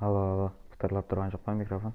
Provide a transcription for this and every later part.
Alo, alo, pıtırlap turǵan joq pa mikrofon?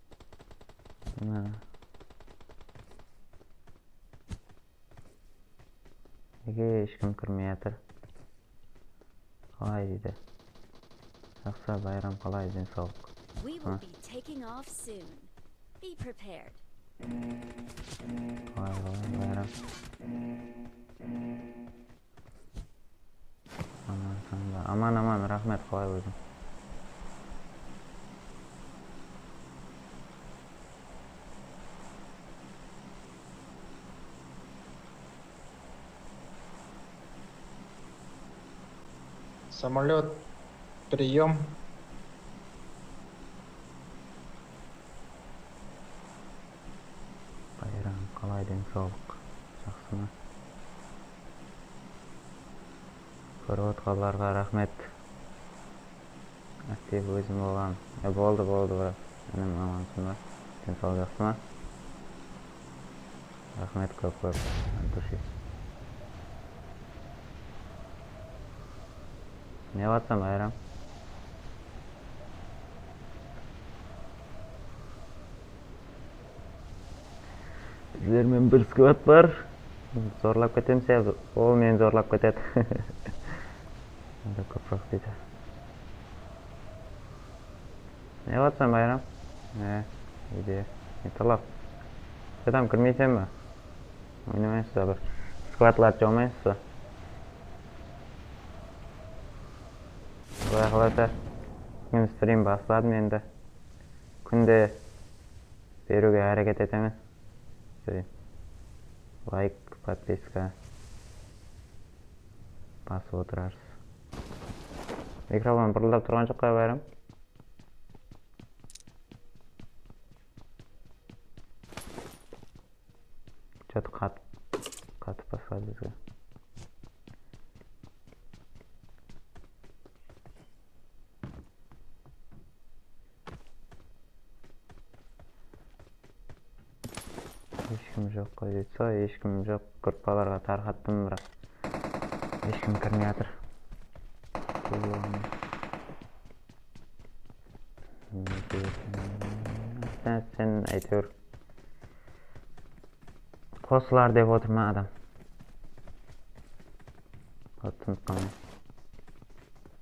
Mına nege eshkim kirmey atır qalay deydi jaqsı bayram qalay den sawlıq mına. Aman tańda aman aman raxmet qalay óziń. Samolyot priyom. Bayram qalay densawlıq jaqsımı kórip otqanlarǵa raxmet aktiv ózim boǵan e boldı boldı brat inim amansıńba densawlıq jaqsıma raxmet kóp kóp at dushi newatsan bayram. Sizlermen bir skvad bar. Zorlap ketemiz ya ol meni zorlap ketedi. Onda kópiroq deydi. Ne qılıp atırsan Bayram? He, uyde. Ne tolap? Shadam kirmeysen ba? Oynamaysız ba bir? Skvadlardı jaumaysız ba? Quday qalasa, búgin strim basladım endi. Kúnde beriwge háreket eteńiz ey layk podpiska basıp otırarız. Mikrofon bırıldap turǵan joq pa bári. Che to qat qatıp basladı bizge. Eshkim joq qoy deydi soy eshkim joq gruppalarga tarqattım biraq eshkim kirmey atır nege eken ata sen ayteuir qosılar dep otır ma adam tusınip qalmayman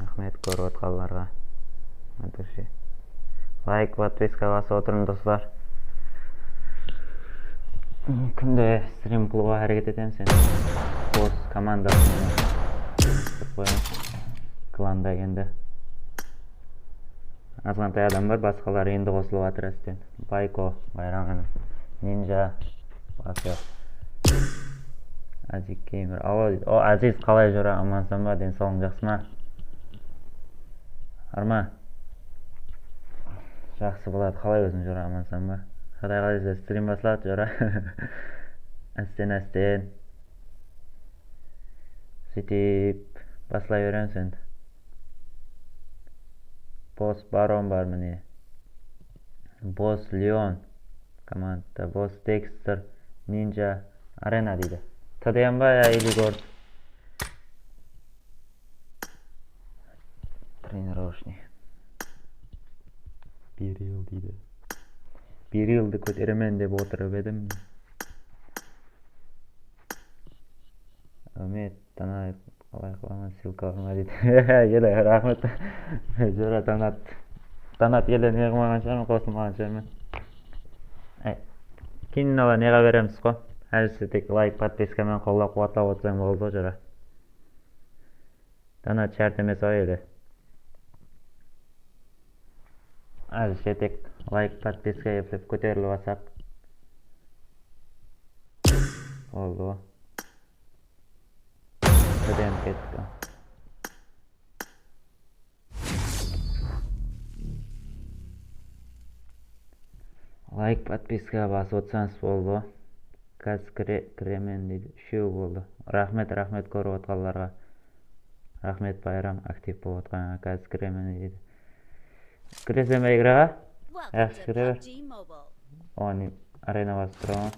Raxmet kórip atqanlarǵa. Ápirshe. Layk, podpiska basıp otırıń doslar. Kúnde strim qılıwǵa háreket etemiz endi. Xos komanda qosıp qoyamız. Klanda endi azǵantay adam bar, basqalar endi qosılıp atır ásteń. Bayko, Bayraǵin, Ninja, Basyo. Azik Gamer. Alo, o Aziz qalay júr, amansan ba, densawlıń jaqsı ma? Arma. Jaqsı boladı, qalay óziń júr, amansan ba? Quday qalaysa strim basladı jora. Ásten-ásten. Sutip baslay beremiz endi. Boss Baron bar mine. Boss Leon komandada Boss Dexter Ninja Arena deydi. Tadayanba ya ili gorsk trenirovshniy. Beril deydi. Berildi kóteremen dep otırıp edim. Áwmet. Tanayıq qalay qılaman ssilka urma deydi hehe ele raxmet jura tanat tanat ele neqılmaǵan shıǵarmen qosılmaǵan shıǵarmen ay keyin mınalar neǵa beremiz qo házirse tek layk podpiska menen qollap quwatlap otırsań boldı ǵo jura tanat shárt emes ау ele házirse tek layk podpiska eplep kóterilip alsaq boldı ǵo Student ketti. Layk podpiska basıp otsanız boldı. Kaz kiremen deydi. Úshew boldı. Raxmet raxmet korip otkanlarga. Raxmet Bayram aktiv bolip otkanıńa kaz kiremen deydi. Kireseme igraǵa? Jaqsı kire ber. Oǵan arena basıp tura ma?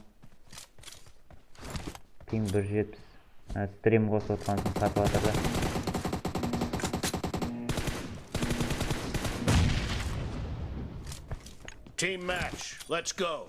Ping bir júz jetpis. Strim qosıp otırǵan ushın satıp atır da. Team match, let's go!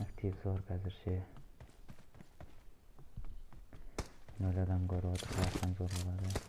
Aktiv zor kázirshe. Nol adam kórip otır qayaqqan zor boladı.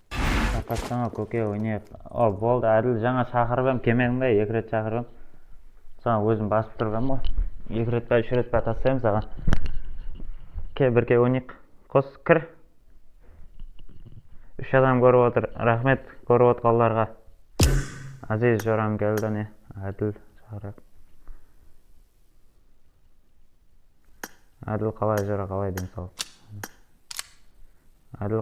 Tarqatsańa kóke oynayıq. O boldı Ádil jańa shaqırıp em kelmediń be eki ret shaqırıp em saǵan ózim basıp turıp em ǵoy eki ret pa úsh ret pa tastayım saǵan kel birge oynayıq qos kir úsh adam kórip otır raxmet kórip otqanlarǵa Aziz Joramgeldi ne Ádil shaqırayıq Ádil qalay júr aqalay densawlık Ádil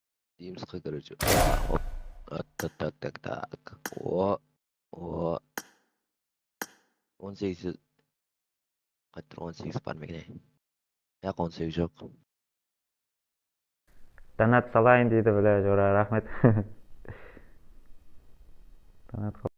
Nemsqa gráci aaaop attattaktaktak o o on segiz yuz qayt tur on segiz bar meken ey jaq on segiz joq. Donat salayın deydi bile jora raxmet donat qıl.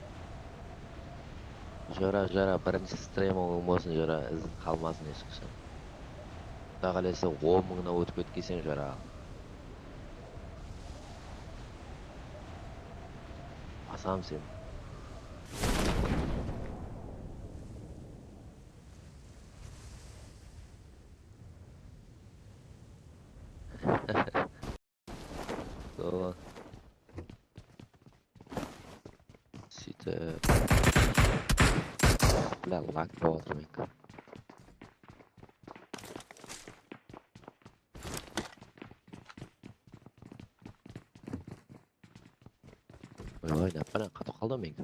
Jora jora birinshi stremogıń bolsın jora izin qalmasın eshqashan Quday qalasa on mıńnan ótip ketkenseń jora aǵam. Basam sen. Daway. Sitip. Bla lak boladı menki. Oy, ne yapqan? Qatı qaldı menki.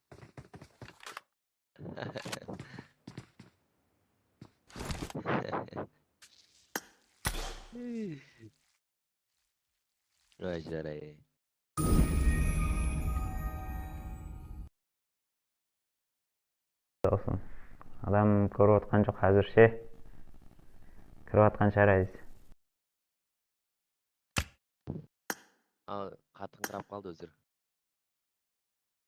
Adam kórip atqan joq házirshe kirip atqan shıǵar ádiyse. Al qatıńqırap qaldı ózir.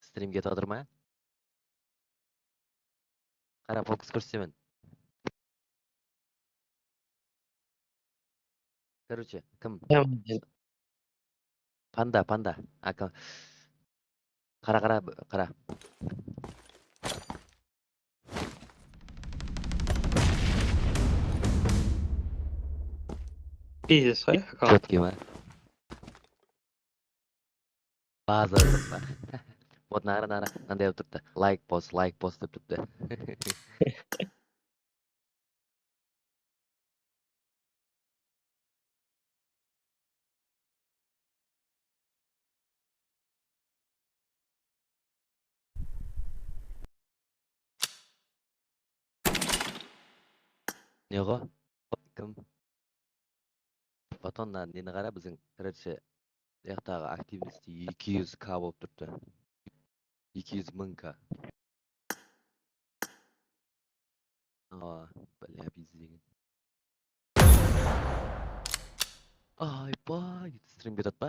Strimge tadır ma? Qara fokus kórsetemen. Koroche, kim? Panda, panda. Aka. Qara, qara, qara. Pizes, ha? Chetkima. Bazı jurtqa ot nari nari mınday bolup turıptı layk post layk post dep turıptı. Neǵo ot kim. Batan nari neni qara biziń redce uyaqtaǵı aktivnosti eki júz ka bolıp turıptı eki júz mıń ka awa bálá biz degen aypay dedi strim betot pa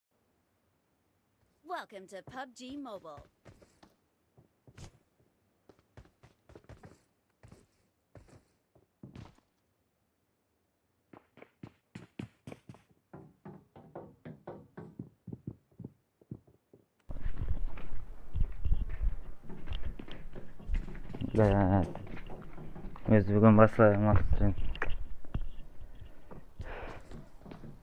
Welcome to PUBG Mobile. Biz búgin baslayıq maqsetpenen.